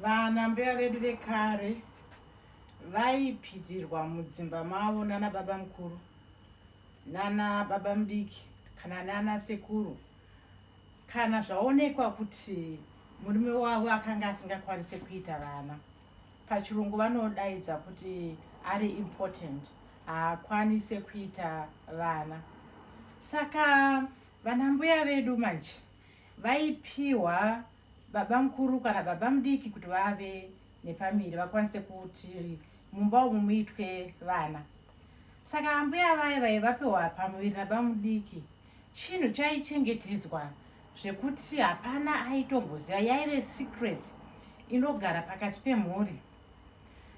Vana mbuya vedu vekare vaipirirwa mudzimba mavo nana baba mukuru nana baba mudiki kana nana sekuru kana zvaonekwa kuti murume wavo akanga asingakwanise kuita vana pachirungu vanodaidza kuti ari important haakwanise kuita vana saka vanambuya vedu manje vaipiwa babamukuru kana babamudiki kuti vave nepamiri vakwanise kuti mumba umu muitwe vana saka ambuya vaye vaye vapiwa pamuviri nabamudiki chinhu chaichengetedzwa zvekuti hapana aitomboziva yaive secret inogara pakati pemhuri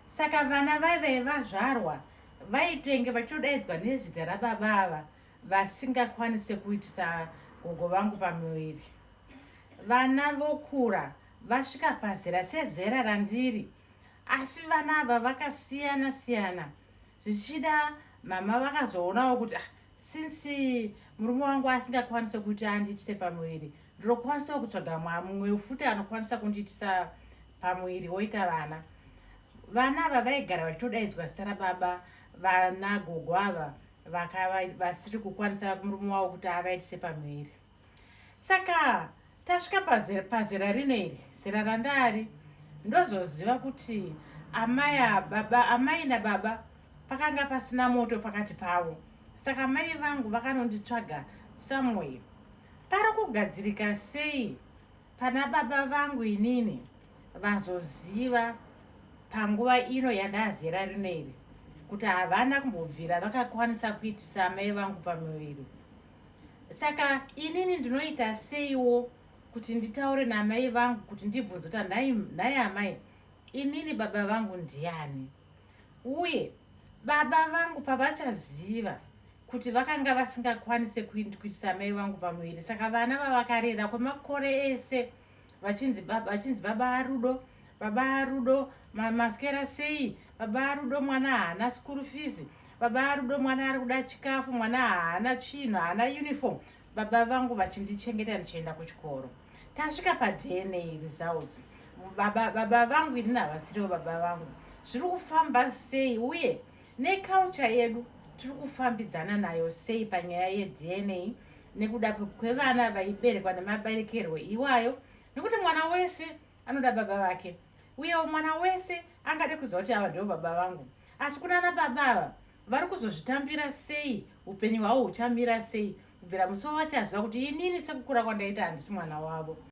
saka vana vaive vazvarwa vaitenge vachidaidzwa nezita rababa ava vasingakwanise kuitisa gogo vangu pamuviri Vana vokura vasvika pazera sezera randiri asi vana ava vakasiyana siyana zvichida mama vakazoonawo kuti ah, since murume wangu asingakwanise kuti andiitise pamuviri ndinokwanisawo kutsvaga mumwe futi anokwanisa kundiitisa pamuviri woita vana vana ava vaigara vachitodaidzwa zita rababa vana gogo ava vasiri kukwanisa murume wavo kuti avaitise pamuviri Saka tasvika pazera, pazera rino iri zera randaari ndozoziva kuti amai ababa amai nababa pakanga pasina moto pakati pavo saka mai vangu vakanonditsvaga somewhere pari kugadzirika sei pana baba vangu inini vazoziva panguva ino yandazera rino iri kuti havana kumbobvira vakakwanisa kuitisa amai vangu pamuviri saka inini ndinoita seiwo kuti nditaure namai vangu kuti ndibvunze kuti nhai amai inini baba vangu ndiani uye baba vangu pavachaziva kuti vakanga vasingakwanise kuitisa amai vangu pamuviri saka vana vavakarera kwemakore ese vachinzi baba vachinzi baba arudo baba arudo maswera sei baba arudo mwana haana school fees baba arudo mwana ari kuda chikafu mwana haana chinhu haana uniform baba vangu vachindichengeta ndichienda kuchikoro tasvika padna results baba, baba vangu inini havasiriwo baba vangu zviri kufamba sei uye neculture yedu tiri kufambidzana nayo sei panyaya yedna nekuda kwevana vaiberekwa nemaberekerwo iwayo nekuti mwana wese anoda baba vake uyewo mwana wese angade kuziva kuti ava ndivo baba vangu asi kunana baba ava vari kuzozvitambira sei upenyu hwavo huchamira sei kubvira musi wavachaziva kuti inini sekukura kwandaita handisi mwana wavo